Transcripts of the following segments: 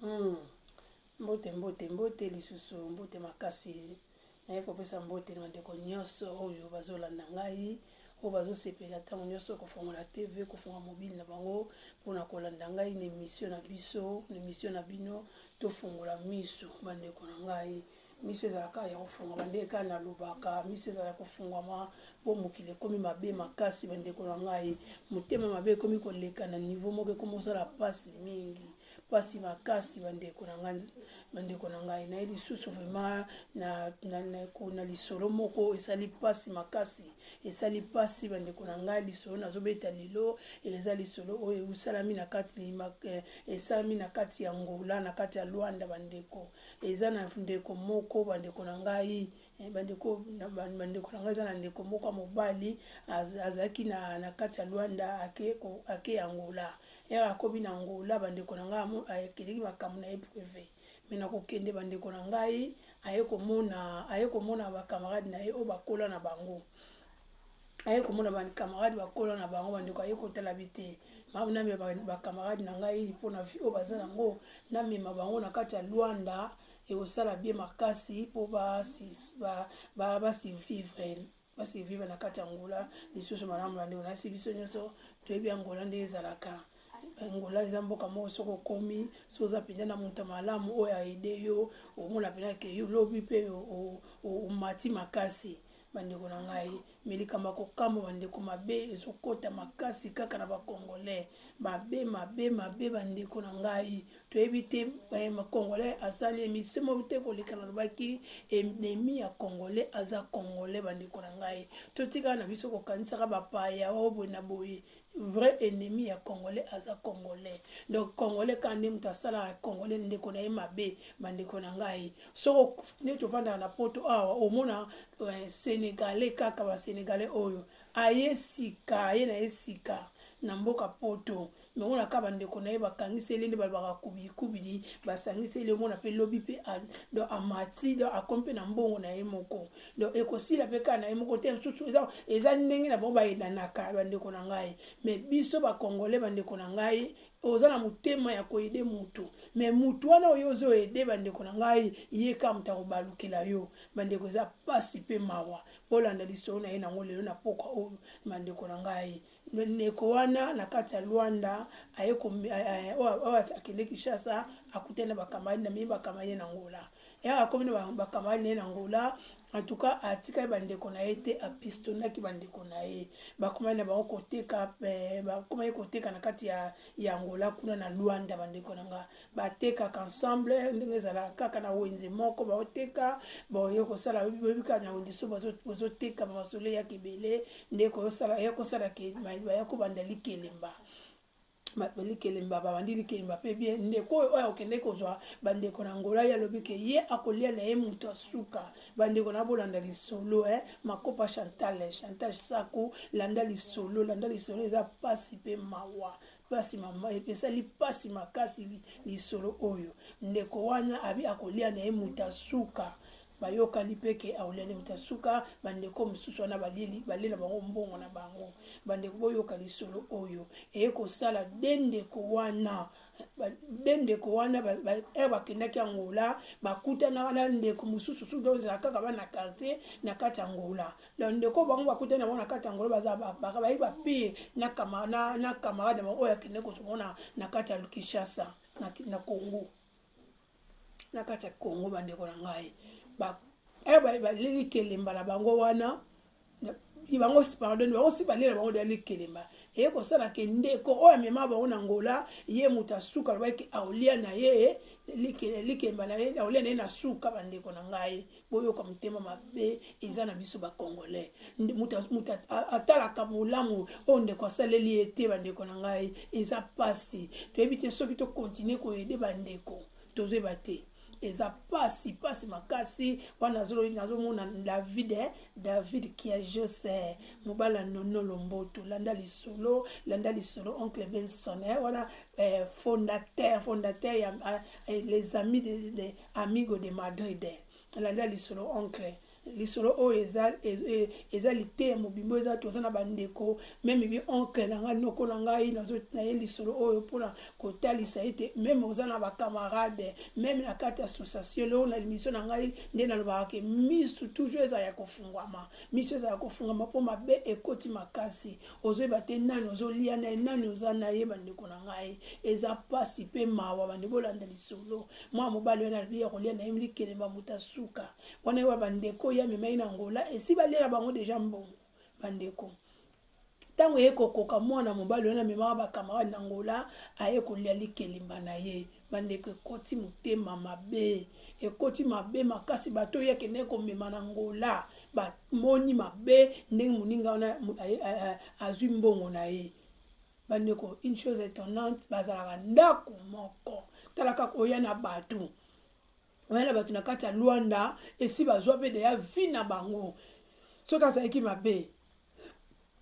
Mm. Mbote mbote mbote lisusu mbote makasi naye kopesa mbote na bandeko nyonso oyo bazolanda ngai oyo bazosepela ntango nyonso kofongola tv kofonga mobile na bango mpona kolanda ngai na emission na biso na emission na bino tofongola miso bandeko na ngai miso ezalaka ya kofungwama nde kaka nalobaka miso ezalaka kofungwama mpo mokili ekomi mabe makasi bandeko na ngai motema mabe ekomi koleka na nivo moko ekomi kosala mpasi mingi mpasi makasi bandeko na ngai bandeko na ngai naye lisusu vraiment na, na, na, na lisolo moko esali mpasi makasi esali mpasi bandeko na ngai lisolo nazobeta lelo eza lisolo oyo esalami na kati eh, esalami na kati ya ngola na kati ya lwanda bandeko eza na ndeko moko bandeko na ngai eh, bandeko bandeko na ngai eza na ndeko moko ya mobali azalaki na, na kati ya lwanda ake, ake angola ere akomi na angola bandeko na ngai akeleki makambo na ye prive me na kokende bandeko na ngai aye komona aye komona bakamarade na ye oyo bakola na bango aye komona bacamarade bakola na bango bandeko aye kotala bi te namema bacamarade na ngai mpo na vie oyo baza nango namema bango na kati ya lwanda ekosala bie makasi mpo basurvivre basurvivre na kati ya ngola lisusu malamu bandeko nasi biso nyonso toyebi ya ngola nde ezalaka angola eza mboka moko soki okomi soki oza mpenza na moto ya malamu oyo aide yo omona mpenza ke yo lobi mpe omati makasi Bandeko na ngai, mais likambo ya kokamwa bandeko, mabe ezokota makasi kaka na bacongolais, mabe mabe mabe bandeko na ngai, toyebi te eh, congolais asali emission moko te koleka nalobaki ennemi ya congolais aza congolais. Bandeko na ngai, totikala na biso kokanisaka bapaya oyo oh, boye na boye, vrai ennemi ya congolais aza congolais donc congolais kaka nde moto asalaka congolais ndeko na ye mabe bandeko na ngai soko nde tofandaka na poto awa omona eh, senegalais kaka basenegalais oyo aye sika aye na ye sika na mboka poto mongona kaka bandeko na ye bakangiseli nde balobaka kubilikubili basangiseli omona mpe lobi mpe amati akomi mpe na mbongo na ye moko donc ekosila mpe kaka na ye moko te mosusu eza, eza ndenge na bango bayedanaka bandeko na ngai me biso bakongole bandeko na ngai oza na motema ya koyede motu me motu wana oyo ozo ede bandeko na ngai ye kaka moto akobalukela yo bandeko eza mpasi mpe mawa bolanda lisolo na ye nango lelo na pokwa oyo bandeko na ngai ndeko wana na kati ya Luanda aye oyo akende Kinshasa akutani na bakamani na mie bakamani na Angola yaka akomi na bakamani na ye na Angola en tout cas atikali bandeko na ye te apistonaki bandeko na ye bakomaki na bango koteka eh, bakomaki koteka na kati ya, ya Angola kuna na Luanda bandeko na nga batekaka ensemble ndenge ezalaka kaka na wenze moko baoteka baoye kosala boyebi kaka na wenze so bozoteka bamasolo eyaka ebele nde koyosala ya kosala ke baya kobanda likelemba bato likelemba babandi likelemba mpe bie ndeko oyo oyo akokende kozwa bandeko na ngola ye alobi ke ye akolia na ye moto ya suka bandeko na bolanda lisolo e eh? makopa chantal chantal saku landa lisolo landa lisolo eza mpasi mpe mawa Pasi mama esali pasi makasi lisolo oyo ndeko wana abi akolia na ye moto asuka bayokani mpe ke aolia na moto asuka bandeko mosusu wana baleli balela bango mbongo na bango bandeko boyoka lisolo oyo eye kosala de ndeko wana de ndeko wana ere bakendaki angola bakutanaka na ndeko mosusu susu ezala kaka bana quartier na kati angola na ndeko bango bakutani yango na kati ya ngolo baza bayebi bapire na camarade bango oyo akende kozomona na kati ya kinshasa na congo na kati ya congo bandeko na ngai eh, baleli kelemba na bango wana bango pardon bango si balela bango dali kelemba eye kosala ke ndeko oyo amema bango na ngola ye moto asuka alobaki aolia na ye likelemba na ye aolia na ye na suka bandeko na ngai boyoka motema mabe eza na biso bacongolais moto atalaka bolamu oyo ndeko asaleli ye te bandeko na ngai eza mpasi toyebi te soki tokontinue koyede bandeko tozoyeba te eza pasi pasi makasi wana nazomona david eh? david kiajose eh? mobali ya nono lomboto landa lisolo landa lisolo oncle benson eh? wana eh, fondateur fondateur ya eh, les amis de, de, Amigo de Madrid, nalandi ya lisolo oncle lisolo oyo eza, e, eza liteya mobimba oyo eza toza na bandeko meme bi oncle na ngai noko na ngai na ye lisolo oyo mpona kotalisa ete meme oza na bacamarade meme na kati ya association leo na limisio na ngai nde nalobaka ke misu toujours eza ya kofungwama misu eza ya kofungwama mpo mabe ekoti makasi ozoyeba te nani ozolia na ye nani oza na ye bandeko na ngai eza mpasi mpe mawa bandeko olanda lisolo mwana mobali wana alobi ya kolia na ye milikelemba moto ya suka wana ye wa bandeko ye amemai na ngola esi baliela bango deja mbongo bandeko ntango eye kokoka mwana mobali wana amemaka bakamarade na ngola aye kolia likelemba na ye bandeko ekoti motema mabe ekoti mabe makasi bato oyo akendaki komema na ngola bamoni mabe ndenge moninga wana azwi mbongo na ye bandeko une chose étonnante bazalaka ndako moko tala kaka oya na bato oya na bato na kati ya lwanda esi bazwa mpe deya vie na bango soki azalaki mabe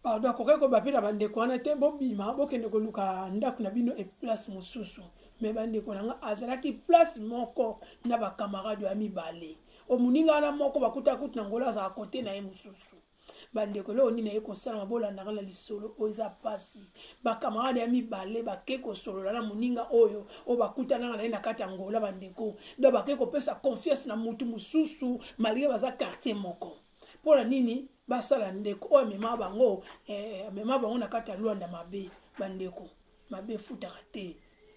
pardon akokaki koba mpe na bandeko wana te bobima bokende koluka ndako na bino eplace mosusu me bandeko na nga azalaki place moko na bakamarade ya mibale omoninga wana moko bakutaki kutu na ngolo azalaka kote na ye mosusu bandeko eloko nini aye kosalama bolandaka na lisolo oyo eza mpasi bakamarade ya mibale bake kosolola na moninga oyo oyo bakutanaka na ye na kati ya ngola bandeko do bake kopesa confiance na motu mosusu malgre baza quartier moko mpo na nini basala ndeko oyo amema bango eh, amema bango na kati ya lwanda mabe bandeko mabe efutaka te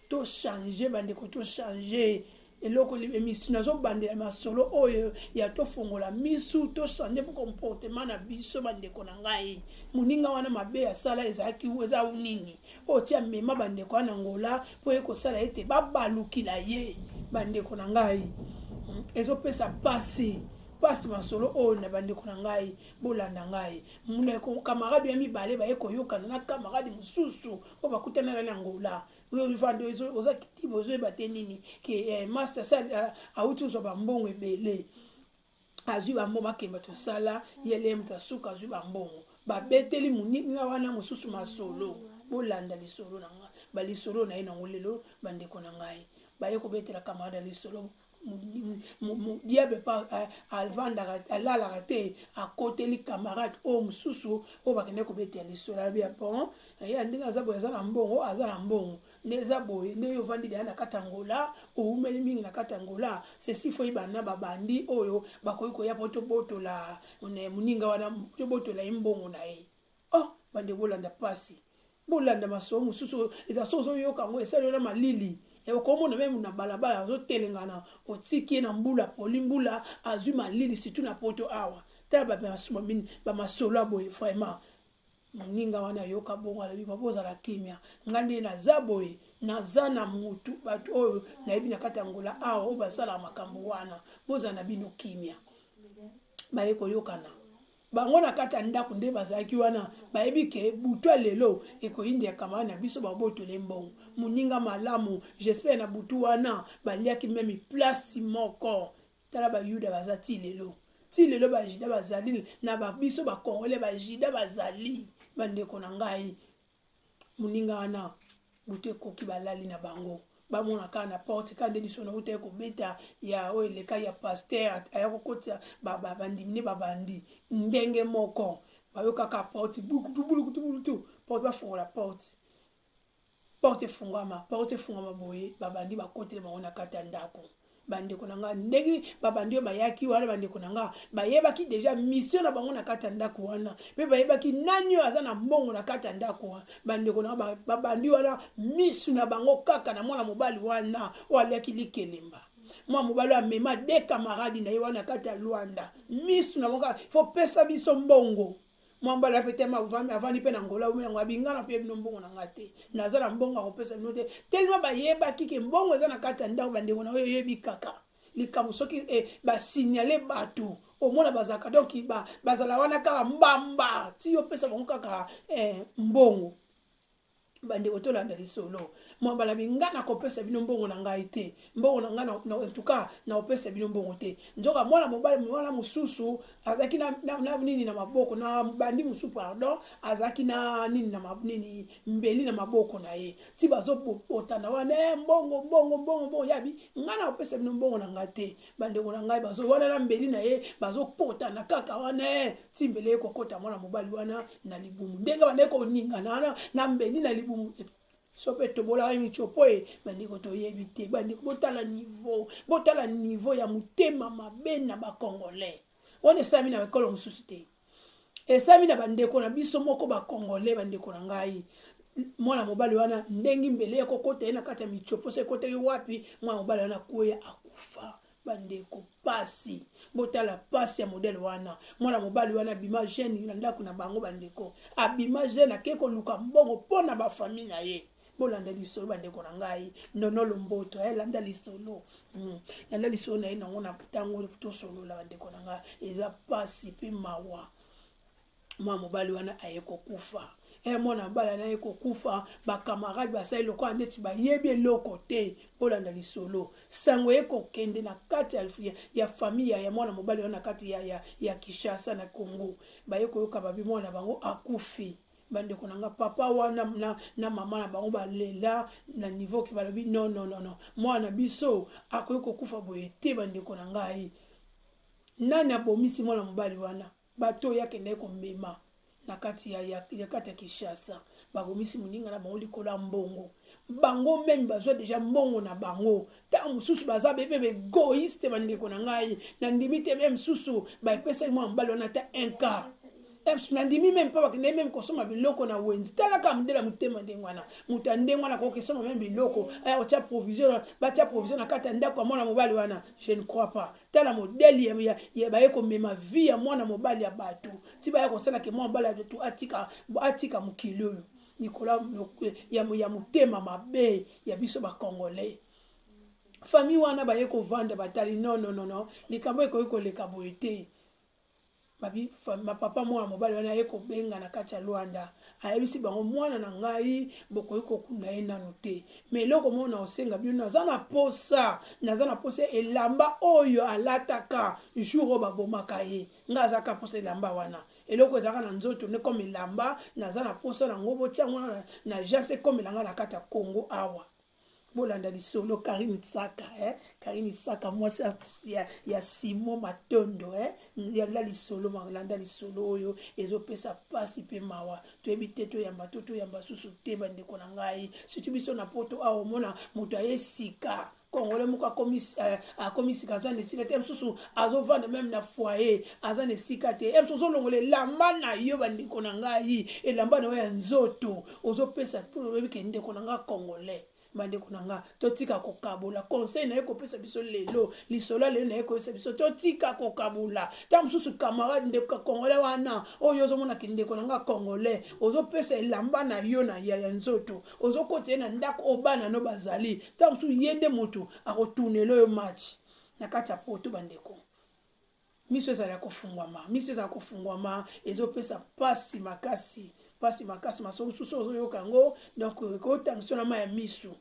tochange bandeko tochange eloko emission nazobandela masolo oyo ya tofongola misu tochange mpo comportement na biso bandeko na ngai moninga wana mabe asala ezalaki eza u nini oyo ti amema bandeko wana ngola mpo ye kosala ete babalukila ye bandeko na ngai hmm, ezopesa mpasi mpasi masolo oyo na bandeko na ngai bolanda ngai ndeko camarade ya mibale baye koyokana na camarade mosusu oyo bakutanaka na angola ovanda oza kitiba ozoyeba te nini ke eh, master sal eh, awuti ozwa bambongo ebele azwi bambongo akemba tosala yelem tasuka azwi bambongo babeteli moninga wana mosusu masolo bolanda lisolo na ngai balisolo na ye nango lelo bandeko na ngai baye kobetela camarade ya lisolo diable pa avandaka alalaka te akoteli camarade oyo mosusu oyo bakende kobeta ya lisolo alobi ya bon ya ndenge aza boye aza na mbongo aza na mbongo nde eza boye nde oyo ovandi deya na kati angola owumeli mingi na kati angola sesi foi bana babandi oyo bakoki koya mpo tobotola moninga wana tobotola ye mbongo na ye Oh, bande bolanda pasi. Bolanda maso mosusu eza so ozoyoka yango esali na malili. Ya okomona meme na balabala azotelengana otiki ye na mbula poli mbula azwi malili surtout na poto awa. Tala bamasolo ya boye vraiment. Moninga wana ayoka bongo alobi babozala kimia. Nga nde naza boye naza na mutu bato oyo nayebi na kati ya ngola awa oyo basalaka makambo wana bozala na bino kimia. Baye koyokana bango na kati ya ndako nde bazalaki wana bayebi ke butu ya lelo ekoyinda ya kamara na biso babotole mbongo moninga malamu jespere na butu wana baliaki meme plasi moko tala bayuda baza ti lelo ti lelo bajida bazali na babiso bakongole bajida bazali bandeko na ngai Moninga wana butu ekoki balali na bango bamona kaka na porte kaka nde lisolo nauta ye kobeta ya oyo eleka ya paster aya kokotisa bandimi nde babandi ndenge moko bayokaka porte bulukutubulukutu porte bafungola porte porte efungwama porte efungwama boye babandi bakotele bango na kati ya ndako bandeko na nga ndenge babandi oyo bayaki wana bandeko na nga bayebaki deja misio na bango na kati ya ndako wana mpe bayebaki nani oyo aza na mbongo na kati ya ndako wana bandeko na nga babandi wana misu na bango kaka na mwana mobali wana oyo aliaki likelemba mwa mobali amema de kamaradi na ye wana kati ya lwanda misu na bango kaka fopesa biso mbongo mwa mbala mpe te avandi mpe na ngola oyo yango abingana mpe bino mbongo na ngai te naza na mbongo ya kopesa bino te telema bayebaki ke mbongo eza na kati ya ndako bandeko na oyo eyebi kaka likambo soki eh, basignale bato omona bazalaka donc ba, bazala wana kaka mbamba ti opesa bango kaka eh, mbongo bandeko tolanda lisolo mwa bala binga nakopesa bino mbongo na ngai te mbongo na ngai entuka nakopesa bino mbongo te nzoka mwana mobali wana mosusu azalaki na, na, na nini na maboko na bandi mosusu pardon azalaki na nini na nini mbeli na maboko na ye ti bazobotana wana e eh, mbongo mbongo mbongo mbongo yabi ngai nakopesa bino mbongo na ngai te bandeko na ngai bazo wana na mbeli na ye bazopotana kaka wana eh, ti mbele ye kokota mwana mobali wana na libumu ndenge bandeki koningana wana na mbeli na libumu eh, so mpe tobolaka micopo ye bandeko toyebi te bandeko botala niveau botala niveau ya motema mabe na bacongolais wana esami na ekolo mosusu te esalami na bandeko na biso moko bakongole bandeko na ngai mwana mobali wana ndengi mbele ya kokota ye na kati ya micoposa ekotaki wapi mwana mobali wana kweya akufa bandeko pasi botala pasi ya modele wana mwana mobali wana abima jeune na ndako na bango bandeko abima jeune ake koluka mbongo mpo na bafamille na ye bolanda lisolo bandeko na ngai nono lomboto eh, landa lisolo mm. landa lisolo na ye nango na ntango tosolola bandeko na ngai eza mpasi mpe mawa mwa mobali wana aye kokufa e mwana mobali wana aye kokufa bakamarade basali lokola neti bayebi eloko te bolanda lisolo sango eye kokende na kati ya, ya famiya ya mwana mobali wana na kati ya, ya, ya kinshasa na congo baye koyoka babi mwana bango akufi bandeko na nga papa wana na, na mama na bango balela na niveau ke balobi no no no no mwana na biso akoki kokufa boye te bandeko na ngai nani abomisi mwana mobali wana bato oyo akendaki komema na kati ya, ya, ya kati ya kinshasa babomisi moninga na bango likolo ya mbongo bango meme bazwa deja mbongo na bango ntango mosusu baza bebe baegoiste bandeko na ngai nandimi te meme susu baepesaki mwa mobali wana ata un cas nandimi meme mpo bakendaki meme kosomba biloko na wenzi talaka modela motema ndenge wana moto ya ndenge wana akoki kosomba meme biloko aya kotya provision batya provision na kati ya ndako ya mwana mobali wana je ne crois pas tala modele ya baye komema vie ya mwana mobali ya bato ti baya kosalaka mwana mobali ya bato atika mokili oyo likolo ya, ya, ya motema mabe ya biso ba congolais famille wana baye kovanda batali no no no no likambo ekoki koleka boye te babi mapapa mwana mobali wana aye kobenga na kati ya lwanda ayebisi bango mwana na ngai bokoki kokunda ye nano te ma eloko moko na osenga bino naza na posa naza na posa elamba oyo alataka jour oyo babomaka ye ngai azaka posa elamba wana eloko ezalaka na nzoto nde comme elamba naza na mposa na yango botia yango na, na jase ekomela ngai na kati ya kongo awa bolanda lisolo karine saka eh? karine saka mwasi ya, ya simo matondo eh? yanda lisolo malanda lisolo oyo ezopesa mpasi mpe mawa toyebi te toyamba to toyamba susu te bandeko na ngai situ biso na poto awa omona moto aye sika congolais moko akomi euh, akomi sika aza na esika te mosusu azovanda meme na foyer aza na esika te mosusu ozolongola elamba na yo bandeko na ngai elamba na yo ya nzoto ozopesa mpo oyebi ke ndeko na ngai congolais bandeko na nga totika kokabola conseil naye kopesa biso lelo lisolo lelo naye koyesa biso totika kokabola ntango mosusu camarade ndeko congolais wana oyo ozomona kindeko na nga congolais ozopesa elamba na yo na ya ya nzoto ozokota ye na ndako oyo bana no bazali ntango mosusu ye nde motu akotunela oyo match na kati ya poto bandeko miso ezala kofungwama miso ezala kofungwama ezopesa mpasi makasi mpasi makasi maso mosusu ozoyoka yango donc ekotangisa na ma ya miso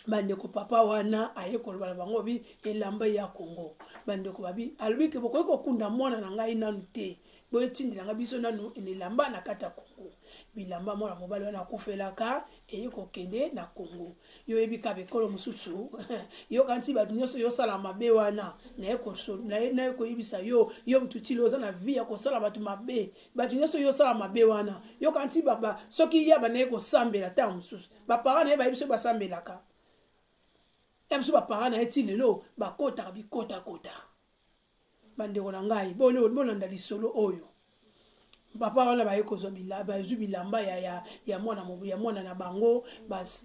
bandeko papa wana aye koloba na bango bi elamba ya kongo bandeko babi alobi ke bokoki kokunda mwana na ngai nanu te botindelanga biso nanu elamba na kati ya kongo bilamba mwana mobali wana akufelaka eye kokende na kongo yo oyebi kaka ekolo mosusu yoka nti bato nyonso yosala mabe wana naye koyebisa yo yo motu tilo oza na vie ya kosala bato mabe bato nyonso yosala mabe wana yoka nti baba soki yaba naye kosambela ntango mosusu bapara na ye bayebi soki basambelaka ya biso bapara na ye ti lelo bakotaka bikotakota bandeko na ngai bolanda lisolo oyo papa wana baye kozwa bazwi bilamba ya, ya, ya, mwana, ya mwana na bango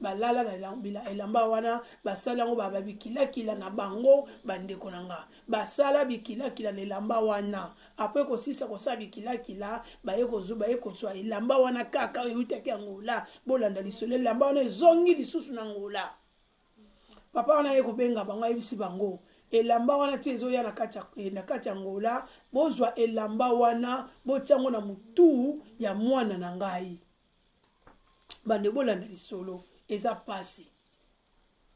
balala na elamba wana basala yango babikilakila na bango bandeko na nga basala bikilakila na elamba wana apres kosisa kosala bikilakila baye kozwa baye kozwa elamba wana kaka eutaki ya ngola bolanda lisolo elamba wana ezongi lisusu na ngola papa wana ye kobenga bango ayebisi bango elamba wana ti ezoya na kati ya ngola bozwa elamba wana botya yango na motu ya mwana na ngai bande bolanda lisolo eza mpasi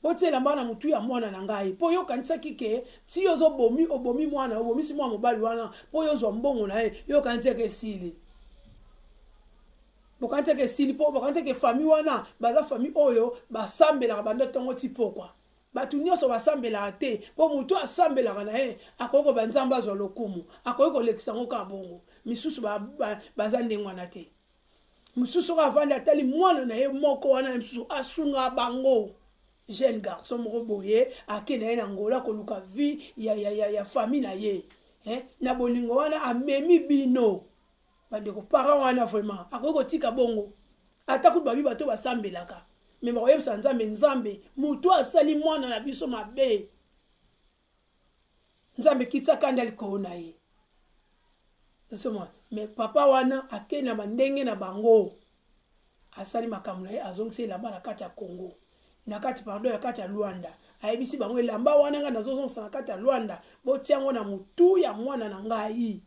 botya elamba wana na motu ya mwana na ngai mpo yo okanisaki ke ti ozobomi obomi mwana obomisi mwana mobali wana mpo yo ozwa mbongo na ye yo okanisaki esili bokanisaki esili mpo bokanisaki famille wana baza famille oyo basambelaka banda ntongo ti pokwa bato nyonso basambelaka te mpo moto asambelaka na ye akoki koba nzambe azwa lokumu akoki kolekisa yango kaka bongo misusu baza ba, ba ndenge wana te mosusu oyo avandi atali mwana na ye moko wana ye mosusu asunga bango jeune garçon moko boye ake na ye na ngola koluka vie ya, ya, ya, ya famille na ye eh? na bolingo wana amemi bino bandeko parent wana vraiment akoki kotika bongo ata kutu babi bato basambelaka me bakoyebisa nzambe nzambe moto asali mwana na biso mabe nzambe kitisaka nde likolo na ye osomona me papa wana akei na bandenge na bango asali makambo na ye azongisi elamba na kati ya congo na kati pardon ya kati ya lwanda ayebisi bango elamba wana ngai nazozongisa na kati ya lwanda botia yango na motu ya mwana na ngai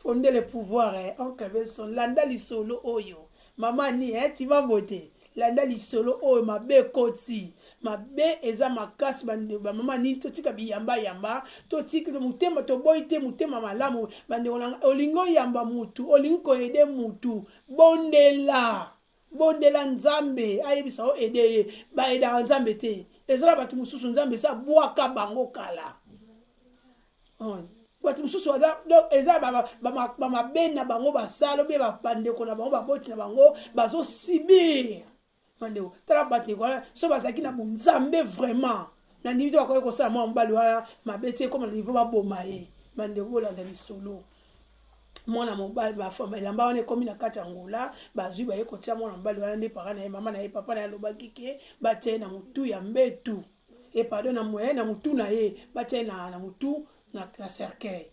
fonde le pouvoir eh, oncle benson landa lisolo oyo mama ni eh, timambo te landa lisolo oyo mabe ekoti mabe eza makasi bamama nini totika biyambayamba totika motema toboyi te motema malamu bandeko nanga olingi oyamba mutu olingi koyede mutu bondela bondela nzambe ayebisa o ede ye baedaka nzambe te eza na bato mosusu nzambe esi abwaka bango kala hmm. bato mosusu eza bamabe na bango basala obe bandeko na bango baboti na bango bazosibir bandeko tala bandeko wana so bazalaki na bonzambe vraiment na ndimi te bakoki kosala mwa mobali wana mabe te ekoma na nivo baboma ye bandeko bolanda lisolo mwana mobali bafama elamba wana ekomi na kati ya ngola bazwi baye kotya mwana mobali wana nde paka na ye mama na ye papa na ye alobaki ke batya ye na motu ya mbetu e pardon na moye na motu na ye batya ye na, na motu na, na cercueil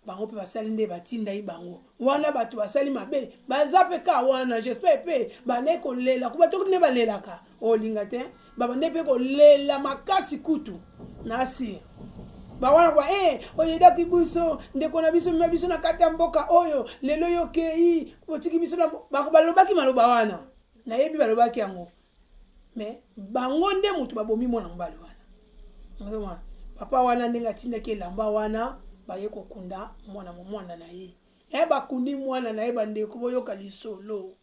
bango mpe basali nde batindaki bango wana bato basali mabe baza mpe ka wana jespere mpe bandai kolela kuba toki nde balelaka olinga oh, te babandai mpe kolela makasi kutu nasi bawana kwa e eh, oyedaki biso ndeko na biso mima biso na kati ya mboka oyo lelo yokei otiki biso na bango balobaki maloba wana nayebi balobaki yango mais bango nde moto babomi mwana mobali wana papa wana ndenge atindaki elamba wana baye kokunda mwana mwana na ye e bakundi mwana na ye bandeko boyoka lisolo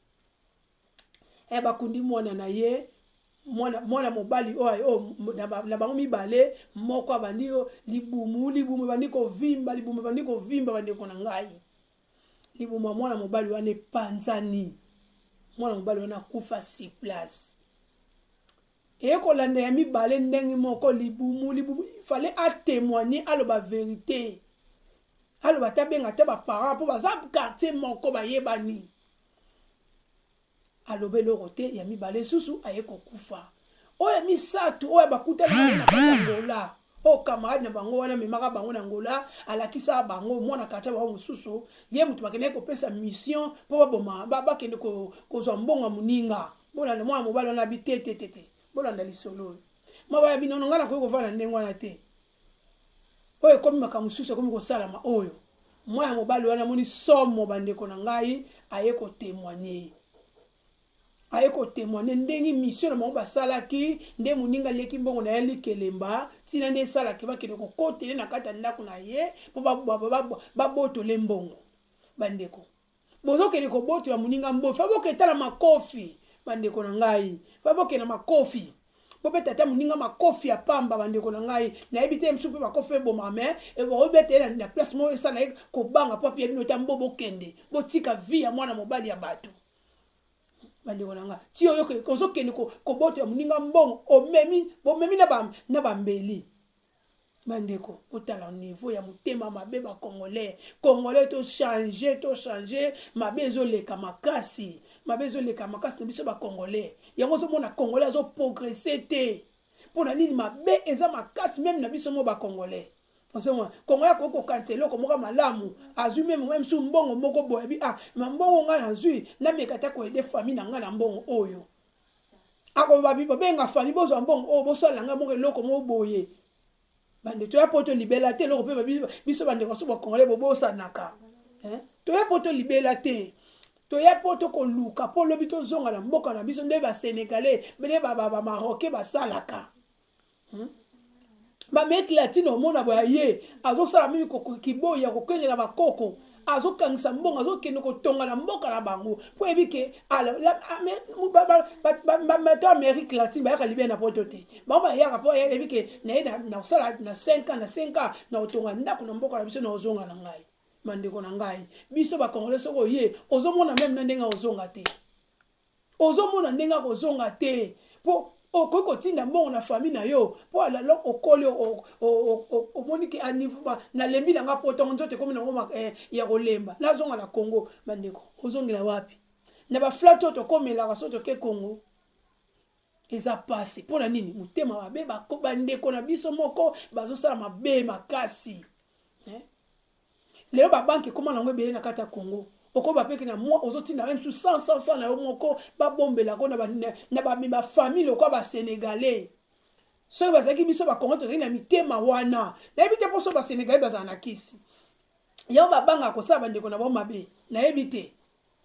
e bakundi mwana na ye mwana, mwana mobali oyo oh, oh, na bango mibale moko abandi yo libumu libumu ebandi kovimba libumu ebandi kovimba bandeko na ngai Libumu ya mwana mobali wana epanzani, mwana mobali wana akufa si place eye kolanda ya mibale ndenge moko libumu libumu fale atemoigne aloba verite aloba te abenga te baparent mpo baza quartier moko bayebani aloba eloko te ya mibale lisusu aye kokufa oyo ya misato oyo bakutani angola oyo camarade na bango wana amemaka bango na angola alakisaka bango mwana kartier bango mosusu ye moto bakendaki kopesa mission mpo baboma bakende kozwa mbongo ya moninga bolanda mwana mobali wana abi te te te te bolanda lisolo oyo mawa ya binono ngai nakoki kovanda ndenge wana te oyo ekomi makambo mosusu ekomi kosalama oyo mwana mobali wana amoni somo bandeko na ngai aye kotemoigne aye kotemoigne ndenge misio na bango basalaki nde moninga aleki mbongo na ye likelemba ntina nde esalaki bakende kokotele na kati ya ndako na ye mpo babotole mbongo bandeko bozokende kobotola moninga mboyi fa boketa na makofi bandeko na ngai fa bokende na makofi bobeta ata moninga makofi ya pamba bandeko na ngai nayebi te mosusu mpe makofi eboma me obeta ye na place moko esala ye kobanga mpo apiya bino ta mbo bokende botika vi ya mwana mobali ya bato bandeko na ngai ti oyo ozokende kobotola moninga mbongo omemi bomemi na bambeli bandeko botala niveau ya motema mabe ba congolais congolais to change to change mabe ezoleka makasi mabe ezoleka makasi na biso ba congolais yango ozomona congolais azoprogresse te mpo na nini mabe eza makasi meme na biso mo ba congolais ozomona congolais akoki kokanisa eloko moko malamu azwi meme meme su mbongo moko boye bi ah ma mbongo ngai nazwi nameka ata koyede famille na ngai na mbongo oyo akoloba bibo benga fali bozwa mbongo oyo oh, bosalela ngai moko eloko moko boye bande toya mpo tolibela te eloko mpe biso bandeko so bakongole bobosanaka toya mpo tolibela te toya mpo tokoluka mpo lobi tozonga na mboka na biso nde basenegalais nde bamaroke basalaka hmm? bameki latino omona boya ye azosala mimi kiboyi ya kokengela bakoko azokangisa mbongo azokende kotonga na mboka na bango mpo yebi ke bato amérique latine bayaka libia na poto te bango bayaka mpo yebi ke naye nakosala na 5 ans na 5 ans na kotonga ndako na mboka na biso na kozonga na ngai bandeko na ngai biso bakongole soki oye ozomona meme na ndenge ozonga te ozomona ndenge akozonga te mpo okoki kotinda mbongo na famille na yo mpo alalo okoli omoni ke nalembi na nga potongo nzoto ekomi nango eh, ya kolemba nazonga na congo bandeko ozongela wapi na baflate oyo tokomelaka so toke congo eza pasi mpo na nini motema mabe bandeko na biso moko bazosala mabe makasi eh? Lelo ba banque ekoma nango ebele na kati ya Congo. Okoba peke na mwa ozotinda même sous 100 100 100 na yo moko babombela ko na ba na ba, ba famille lokola ba Senegalais. Soki bazalaki biso ba Congo tozali na mitema wana. Nayebi te poso ba Senegalais bazala na kisi. Yango babanga kosala bandeko na bango mabe. Nayebi te.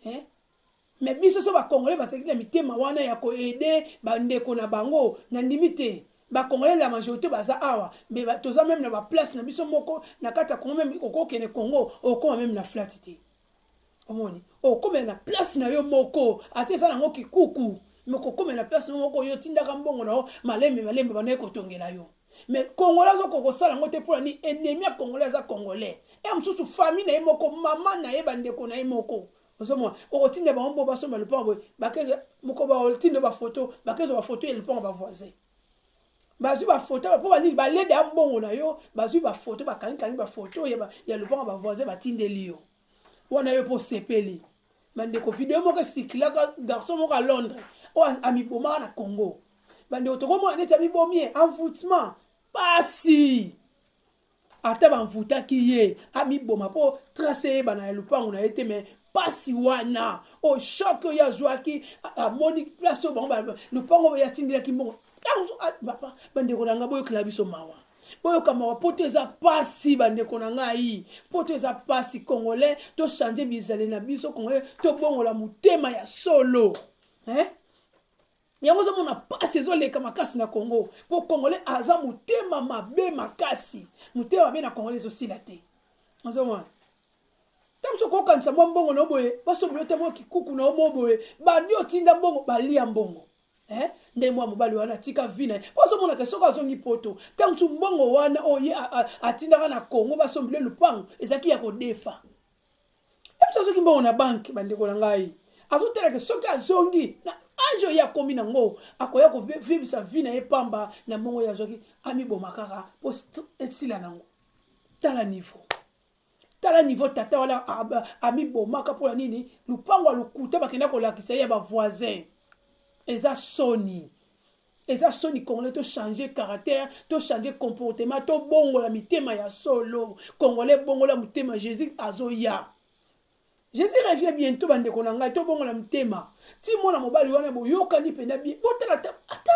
Eh? Mais biso so ba congolais basaki na mitema wana ya ko aider ba ndeko na bango na ndimi te. Ba congolais la majorité baza awa mais ba, toza même na ba place na biso moko na kati ya Congo même okokene Congo okoma même na flat te. Omoni? Okoma na place na yo moko ata eza nango kikuku mais okoma na place na moko yo tindaka mbongo na yo malembe malembe banaye kotongela yo. Mais congolais azo kokosala yango te mpo na nini? Ennemi ya congolais aza congolais. E mosusu famille na ye moko, mama na ye, bandeko na ye moko. ozomona okotinda bango mpo basomba lopango boye bakeza mokoba otinda bafoto bakezwa bafoto ya lopango bavoisin bazwi bafoto mpo banini balede ya mbongo na yo bazwi bafoto bakangikangi bafoto ya lopango bavoisin batindeli yo wana yo mpo osepeli bandeko video moko esikilaka garçon moko ya londres oyo amibomaka na congo bandeko tokomona neti amibomi ye envoutement pasi ata banvutaki ye amiboma mpo trace eyebana ya lopango na ye te me mpasi wana oyo oh, shok oyo azwaki amoni place oyo bango lopango oyo atindelaki mbongo bandeko na ngai boyokela biso mawa boyoka mawa poto eza mpasi bandeko na ngai poto eza mpasi congolais tochange bizale na biso congolais tobongola motema ya solo eh? yango ozomona mpasi ezoleka makasi na congo mpo congolais aza motema mabe makasi motema mabe na congolais ezosila te ozomona ntango soki okokanisa mwa mbongo na yo boye basombeli yo te mwa kikuku na yo moko boye bandi otinda mbongo balia mbongo eh? nde mwa mobali wana atika vi na ye mpo azomonaka soki azongi poto ntango mosusu mbongo wana oyo ye atindaka na congo basombeli lupango ezalaki ya kodefa Yesu azoki mbongo na banke bandeko na ngai azotalaka soki azongi na age oyo akomi nango akoya kovivisa vi na ye pamba na mbongo oyo azwaki amiboma kaka mpo esila nango tala niveau tala niveau tata wana amibomaka mpo na nini lupango ya lokuta bakenda kolakisa ye ya bavoisin eza soni eza soni congolais to changer caractère to changer comportement to bongola mitema ya solo congolais bongola motema jésus azoya jésus revient bientôt bandeko na ngai tobongola motema ti mwana mobali wana boyokani mpena bie botala ata ata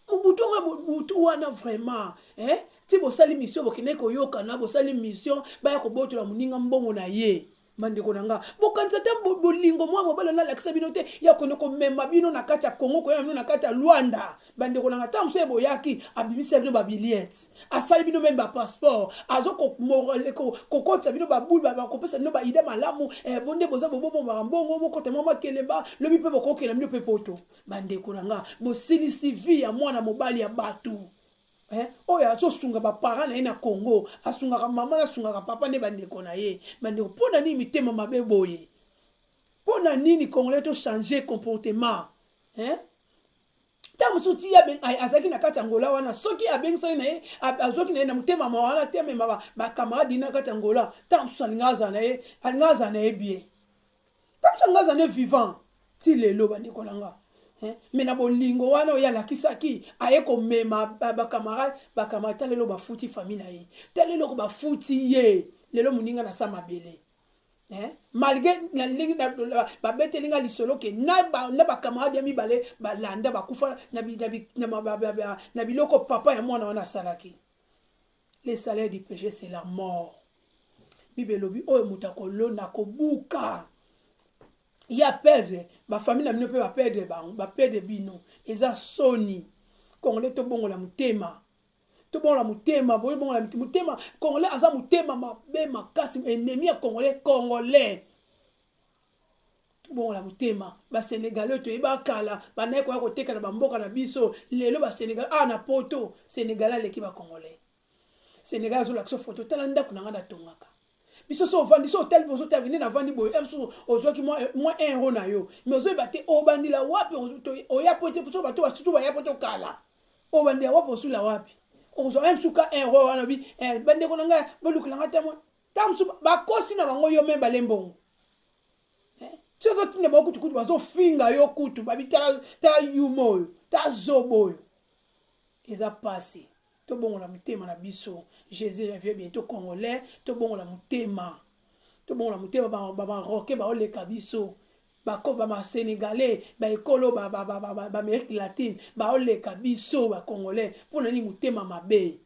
mobutu nga mobutu wana vraiment eh? ti bosali mission bokendeki koyokana bosali mission baya kobotola moninga mbongo na ye bandeko na nga bokanisa te bolingo mwa mobali na alakisa bino te ya kende komema bino na kati ya kongo koyeba bino na kati ya luanda bandeko na nga ntango mosusu eboyaki abimisela bino babiliete asali bino meme bapasseport azo kokotisa bino babulu bakopesa bino baide malamu eh, bonde boza bobobomaka mbongo bokota mwa makelemba lobi mpe bokokela bino mpe poto bandeko na nga bosilisi vi ya mwana mobali ya bato Eh, oyo azosunga bapara na ye na congo asungaka mama na asungaka papa nde bandeko na ye bandeko mpo na nini mitema mabe boye mpo na nini congolais tochange comportement eh? ntango mosusu ti azalaki na kati ya ngola wana soki abengisaki na ye azwaki na ye na motema ma wana te amema bakamarade na kati ya ngola ntango mosusu alinga azala na ye alinga azala na ye bien Kabisa nga aza nde vivant ti lelo bandeko na nga eh, me na bolingo wana oyo alakisaki aye komema bakamarade bakamarade ta lelo bafuti fami na ye ta lelo ko bafuti ye lelo moninga na sa mabele eh, malgre na ndenge babeteli nga lisolo ke na bakamarade ya mibale balanda bakufa na biloko papa ya mwana wana asalaki Le salaire du péché c'est la mort. Bible elobi oyo moto akolona kobuka ya perdre bafamile na bino mpe baperdre bango baperdre bino eza soni congolais tobongola motema tobongola motema boyebongola motema congolais aza motema mabe makasi enemi ya congolais congolais tobongola motema basenegalais oyo toyeba kala bandaki koya koteka na bamboka na biso lelo basenegal awa ah, na poto senegalais aleki bacongolais senegal azolakisa foto tala ndako na ngai natongaka biso so ovandi so otali bozo tala nde navandi boye eh, mosusu ozwaki mwa eh, un euro na yo mais ozoyeba te obandela wapi oya po te so bato basutu baya po tokala obandela wapi osula wapi ozwa eh, msuka euro wana bi bandeko na ngai bolukela ngai ta mwa ntango mosusu bakosi na bango yo meme bale mbongo eh, ti ozotinda bango kutu kutu bazofinga yo kutu babi tala yuma oyo ta zoba oyo eza mpasi tobongola motema na biso jésus revie bientôt congolais tobongola motema tobongola motema baroke baoleka biso basénégalais baekolo baamérique latine baoleka biso bacongolais mpo na nini motema mabe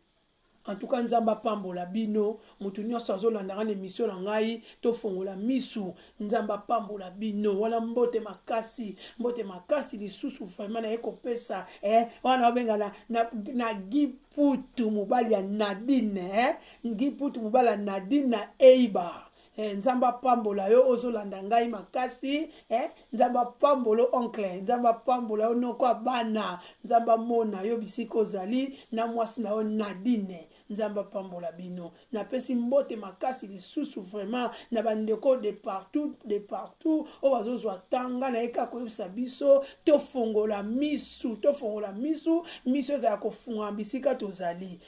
En tout cas nzambe apambola bino mutu nyonso azolandaka na emission na ngai tofongola misu nzambe apambola bino wana mbote makasi mbote makasi lisusu vraiment naye kopesa eh, wana obenga na, na, na giputu mobali ya nadine eh, giputu mobali ya nadine na eiba Eh, nzambe apambola yo ozolanda ngai makasi eh, nzambe apambola oncle nzambe apambola yo noko ya bana nzambe amona yo bisika ozali na mwasi na yo nadine nzambe apambola bino napesi mbote makasi lisusu vraiment na bandeko de partout de partout oyo bazozwa tanga na ye kaka koyebisa biso tofongola misu tofongola misu miso ezala kofungama bisika tozali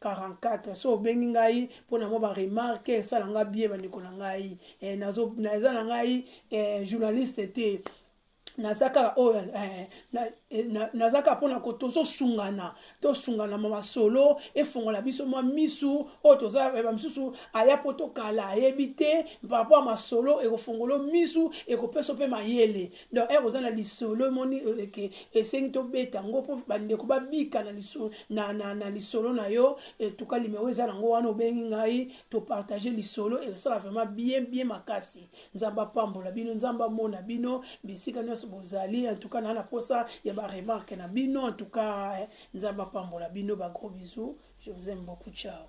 44 so obengi ngai mpo na mwa baremarke esala ngai bie bandeko na ngai eh, naza na ngai eh, journaliste te naza kaka oyo eh, eh, naza kaka mpona ko tozosungana tosungana ma masolo efongola biso mwa misu oyo toza eh, bamisusu aya mpo tokala ayebi te paraport ya masolo ekofongolo misu ekopesa mpe mayele donc ere oza na lisolo emoni euh, ke esengi tobeta yango mpo bandeko babika na lisolo na, na, na, lisolo na yo etuka limero eza nango wana obengi ngai topartage lisolo esala vraiment bien bien makasi nzambe apambola bino nzambe amona bino bisika nyonso bozali entuka naa na mposa ya baremarke na bino entuka eh, nzambe apambola bino bagros bisous je vous aime beaucoup ciao